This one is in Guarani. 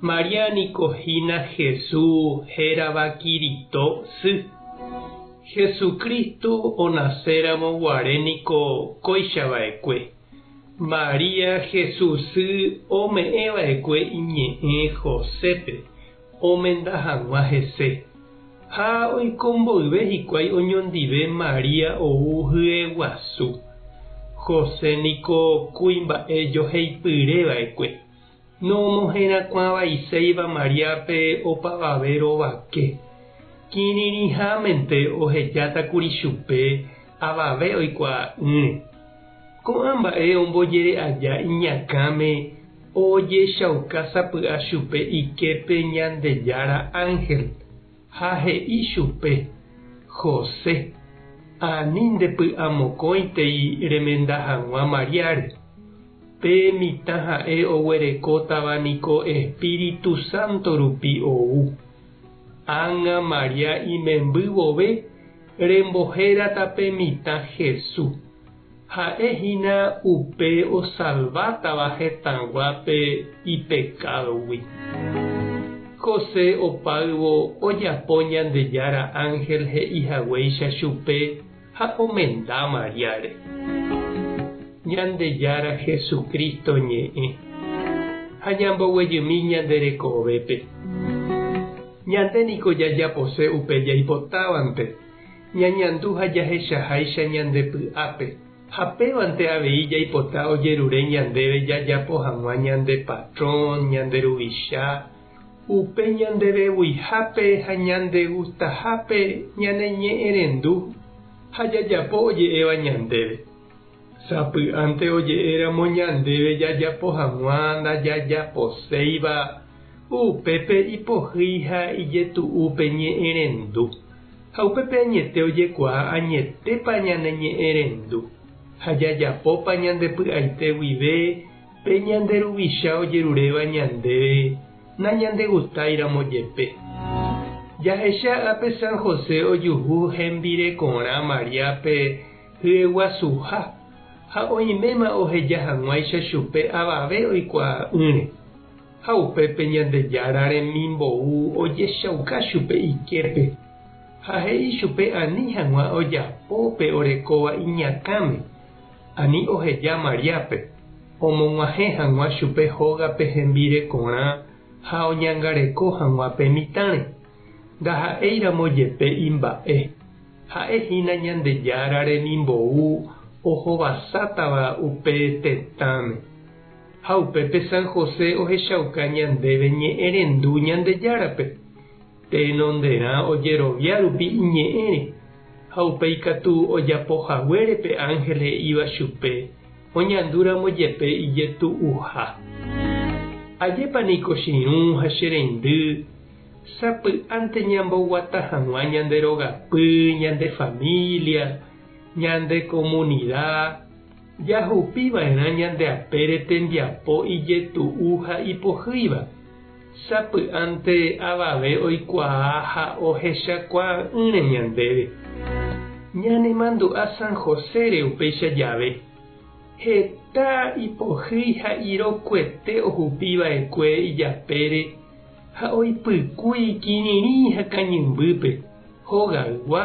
María niko hína Hesu hérava Kirito sy. Jesucristo onaséramo guare niko kóichava'ekue, María Hesu sy ome'ẽva'ekue iñe'ẽ Josépe omenda hag̃ua hese. Ha oiko mboyve hikuái oñondive María ou hyeguasu. José niko kuimba'e joheipyréva'ekue. Nomoherakuãvaiséiva Mariápe opavave rovake. Kirirĩhámente ohejátakuri chupe avave oikuaa'ỹre. Ko'ã mba'e ombojere'aja iñakãme ojechauka sapy'a chupe iképe Ñandejára ánhel. Ha he'i chupe, José, ani ndepy'amokõitei remenda hag̃ua Mariáre. Pe mitã ha'e oguerekótava niko Espíritu Santo rupi ou. Ág̃a María imemby vove rembohérata pe mitã Jesús. Ha'e hína upe osalvátava hetãguápe ipekádogui. José opáyvo ojapo Ñandejára ánhel he'i haguéicha chupe ha omenda Mariáre. Ñandejára Jesucristo ñe'ẽ. Ha ñamboguejymi ñande rekovépe. Ñande niko jajapose upe jaipotávante. Ñañandu ha jahechaháicha ñande py'ápe, ha pévante avei jaipota ojerure ñandéve jajapo hag̃ua ñande patrón, ñande ruvicha, upe ñanderevuihápe ha ñandegustahápe ñaneñe'ẽrendu ha jajapo oje'éva ñandéve. Sapy'ánte oje'éramo ñandéve jajapo hag̃ua ndajajaposéiva, upépe ipohýi ha ijetu'úpe ñe'ẽrendu. Ha upépe añete ojekuaa añetépa ñane ñe'ẽrendu ha jajapópa ñande py'aite guive pe ñande Ruvicha ojeruréva ñandéve nañandegustáiramo jepe. Jahecha ápe San José ojuhu hembirekorã Mariápe hyeguasuha ha oiméma oheja hag̃uáicha chupe avave oikuaa'ỹre. Ha upépe Ñandejára remimbou ojechauka chupe iképe, ha he'i chupe ani hag̃ua ojapo pe orekóva iñakãme, ani oheja Mariápe, omog̃uahẽ hag̃ua chupe hógape hembirekorã ha oñangareko hag̃ua pe mitãre. Ndaha'éiramo jepe imba'e, ha'e hína Ñandejára remimbou ohovasátava upe tetãme. Ha upépe San José ohechauka ñandéve ñe'ẽrendu Ñandejárape, tenonderã ojerovia rupi iñe'ẽre, ha upe ikatu ojapo haguére pe ánhel he'íva chupe oñandúramo jepe ijetu'uha. Ajépa niko che irũ ha che reindy sapy'ánte ñamboguata hag̃ua ñande rogapy, ñande família, ñande komunida! Jahupi va'erã ñande apére tembiapo ijetu'u ha ipohýiva. Sapy'ánte avave oikuaa ha ohechakuaa'ỹre ñandéve. Ñanemandu'a San Josére upéicha jave. Heta ipohýi ha irokuete ohupi va'ekue ijapére ha oipykúi kirirĩ ha kañymbýpe, hogaygua,